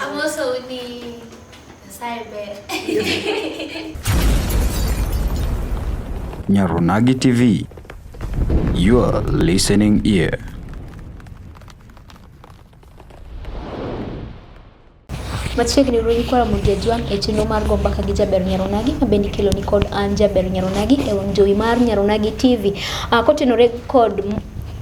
I'm also Uni Cyber. Nyarunagi TV, your listening ear. Machiegni runy kwara mondo jajwang' e chenro mar go mbaka gi jaber Nyaronagi ma bende ikelo ni kod an jaber Nyaronagi e wang' jowi mar Nyaronagi TV. Uh, ah, kotenore kod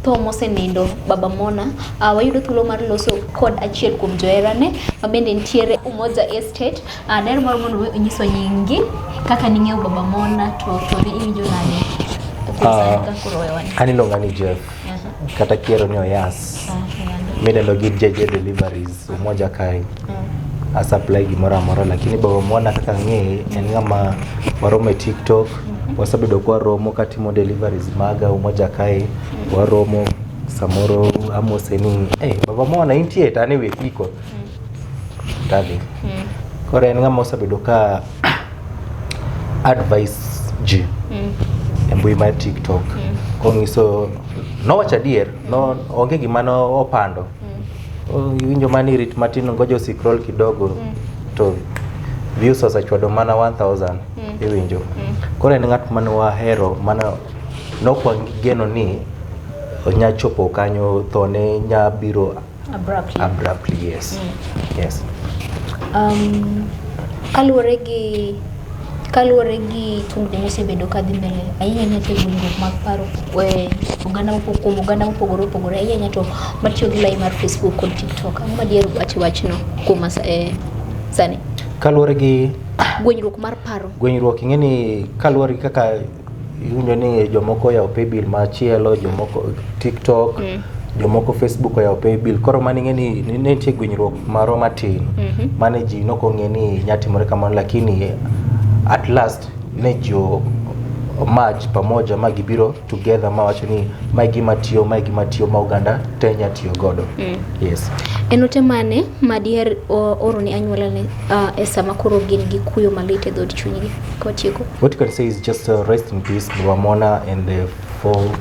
tho mosenindo baba Mona, uh, wayudo thuolo mar loso kod achiel kuom joherane mabende nitiere Umoja Estate. Uh, daher moro mondo we onyiso nyingi kaka ning'eyo baba Mona to to ne iwinjo nade? Kuom sani Ah. ka koro wewani. An iluonga ni Jeff Aha. kata kiero ni Oyas. Okay, and- midendo gi JJ Deliveries. so moja kae mm. asupply gimoro amoro lakini baba mwana kaka ng'eye en ng'ama waromo e tiktok mm-hmm. wasabedo kwa romo katimo deliveries maga umoja kae mm. waromo samoro amose ni hey, baba mwana intie tane we kwiko mm. tadhi mm. koro en ng'ama osabedo ka advice ji mm. e mbui mar tiktok mm. kong'iso nowacho adier no onge gima no opando mm. Oh, iwinjo mana ni rit matin ngoja usikrol kidogo mm. to views osechwado mana 1000 mm. iwinjo mm. koro en ng'at mane wahero mana nokwagigeno ni nya chopo kanyo thone nya biro abruptly, abruptly yes mm. yes um, kaluwore gi Kaluore gi tungni mosebedo ka dhi mbele ahinya ahinya to tungruok mag paro e oganda mopogore kuom oganda mopogore opogore ahinya ahinya to matiyo gi lain mar Facebook kod TikTok. Ang'o ma diher wacho e wachno kuom sani? Kaluore gi? Gwenyruok mar paro. Gwenyruok ing'eni kaluore gi kaka iwinjo ni jomoko oyawo paybill machielo jomoko tiktok mm. jomoko facebook oyawo paybill koro mane ing'e ni ne nitie gwenyruok marwa matin mm -hmm. mane ji nok ong'e ni nyatimore kamano lakini at last ne ji match pamoja ma gibiro together ma wacho ni mae gima tiyo mae gima tiyo ma oganda te nya tiyo godo mm. yes en ote mane madiher oro ne anyuola ne uh, e sama koro gin gi kuyo malit e dhood chunygi Portugal. What you can say is just uh, rest in peace, Baba Mona and the four,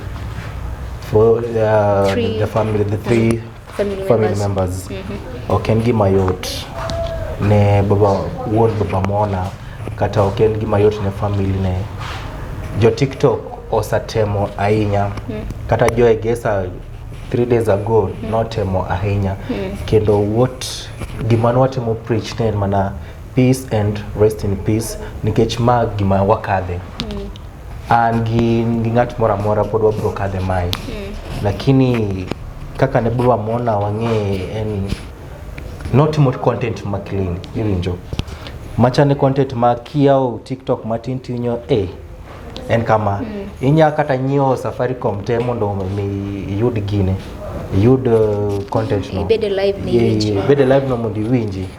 four uh, three. the family, the three mm-hmm. family, family members. Mm -hmm. Okengi Mayot ne Baba Won Baba Mona kata Okengi Mayot ne family ne jo TikTok osatemo ahinya mm. kata jo egesa three days ago mm. notemo ahinya mm. kendo what gima nwatemo preach ne mana Peace and rest in peace nikech ma gima wakadhe. An gi gi ng'at moro amora pod wabiro kadhe mae. Lakini kaka ne bro amona wang'e en notimo content ma clean iwinjo. Machane content ma kiyawo TikTok matin tinyo eh en kama inya kata nyiewo Safaricom te mondo mi iyud gine iyud eh, content no Ibed e live ni Ye- iwinj. ye- ibed e live no mondo iwinji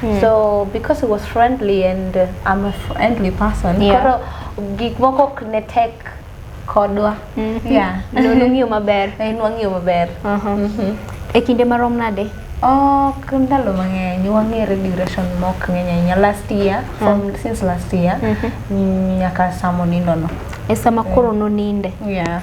Hmm. So because he was friendly and uh, I'm a friendly person, Yeah. koro gik moko ok ne tek kodwa. Mhm. Yeah. Ne unung'iyo maber. Ne nwang'iyo maber. Aha. E kinde marom nade? Ok ndalo mang'eny wang'ere duration mok ng'eny ahinya last year from since last year mm, nyaka sama onindono. E sama koro noninde. Yeah.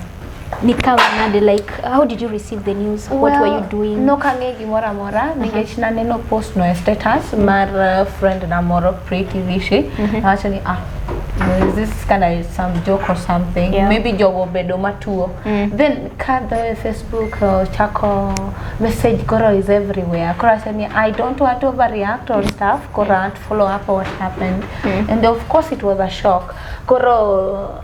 nikawa nade like how did you receive the news well, what were you doing nokang'e gimoro amora uh -huh. nikech naneno post no e status mm -hmm. mar uh, friend na moro Pretty Vishi mm -hmm. nawacho ni ah is this kind of some joke or something yeah. maybe jogo bedo matuo mm. then kadho facebook uh, chako message koro is everywhere koro asemi i don't want to overreact or stuff koro mm. stuff koro mm. follow up what happened mm. and of course it was a shock koro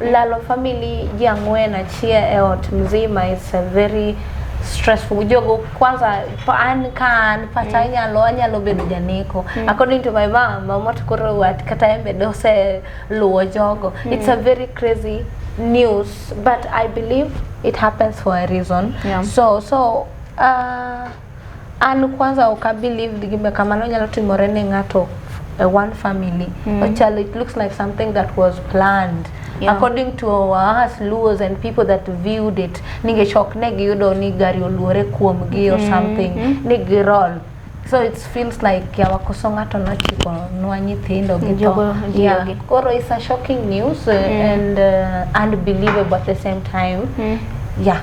Lalo family ji ang'wen achiel e ot mzima is a very stressful jogo kwanza pa- an ka an pacha anyalo anyalo bedo janeko according to my mom mama to koro wat kata en bende oseluwo jogo it's a very crazy news but i believe it happens for a reason Yeah. so so uh, An kwanza ok abelieve ni gima kamano nyalo timore ne ng'ato e one family. Mm. Ochalo, it looks like something that was planned. Yeah. According to us Luos and people that viewed it, ningech ok ne giyudo ni gari oluore kuomgi or mm-hmm. something, mm -hmm. ni girol. So it feels like yawakoso ng'ato nochiko nwa nyithindo gi to. Yeah. Koro it's a shocking news uh, mm. and uh, unbelievable at the same time. Mm. Yeah.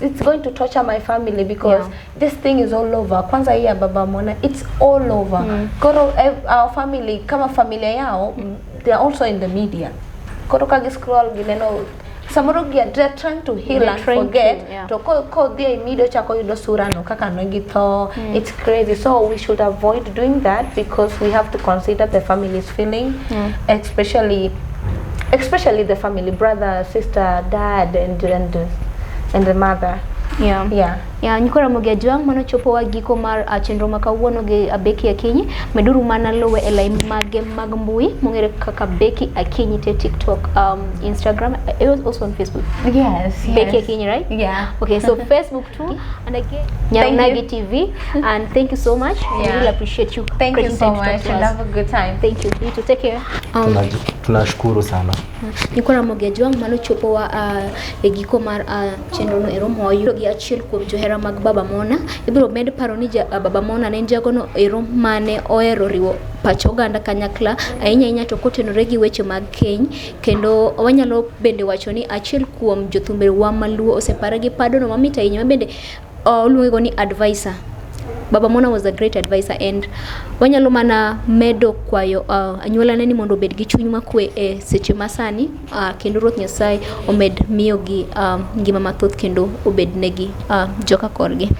it's going to torture my family because yeah. this thing is all over. Kwanza hii ya baba mwana, it's all over. Mm. Koro eh, our family kama familia yao mm. they are also in the media. Koro kagi scroll gineno samoro gia they're trying to heal they're and forget to, yeah. to ko ko dhie imido chako yudo surano kaka ne githo mm. it's crazy. So we should avoid doing that because we have to consider the family's feeling, mm. especially especially the family, brother, sister, dad, and and and the mother. Yeah. Yeah. Yeah, nyiko Ramogi Ajwang' mano chopo wa giko mar uh, chenro ma kawuono gi Abeki Akinyi. Meduru mana luwe e lain mage mag mbui mong'ere kaka Beki Akinyi te TikTok, um, Instagram, it was also on Facebook. Yes, yes. Beki Akinyi, right? Yeah. Okay, so Facebook, too. And again, Nyaunagi TV. And thank you so much. Yeah. We really appreciate you. Thank you so much. And have a good time. Thank you. You too. Take care. Um, tunashukuru sana niko na mogeji wangu mano chopo wa uh, e giko mar uh, chenro no ero moyo gi achiel kuom johera mag baba mona ibiro med paro ni ja, uh, baba mona ne jago no ero mane ohero riwo pach oganda kanyakla ahinya ahinya to kotenore gi weche mag keny Kendo wanyalo bende wacho ni achiel kuom jothumbewa maluo osepare gi padono mamit ahinya ma bende uh, oluongego ni advisor Baba Mona was a great advisor and wanyalo mana medo kwayo uh, anyuolane ni mondo obed gi chuny makwe e seche masani uh, kendo Ruoth Nyasaye omed miyogi um, ngima mathoth kendo obednegi uh, joka korgi.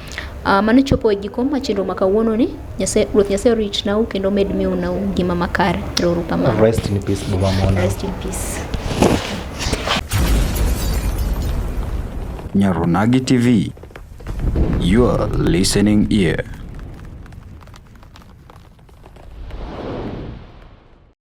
Uh, mano chopo e giko ma chenro ma kawuono ni Nyasaye Ruoth Nyasaye orit nau kendo med miu nau ngima makare. Erouru kamano. Rest in peace Boma Mona. Rest in peace. Nyarunagi TV, your listening ear.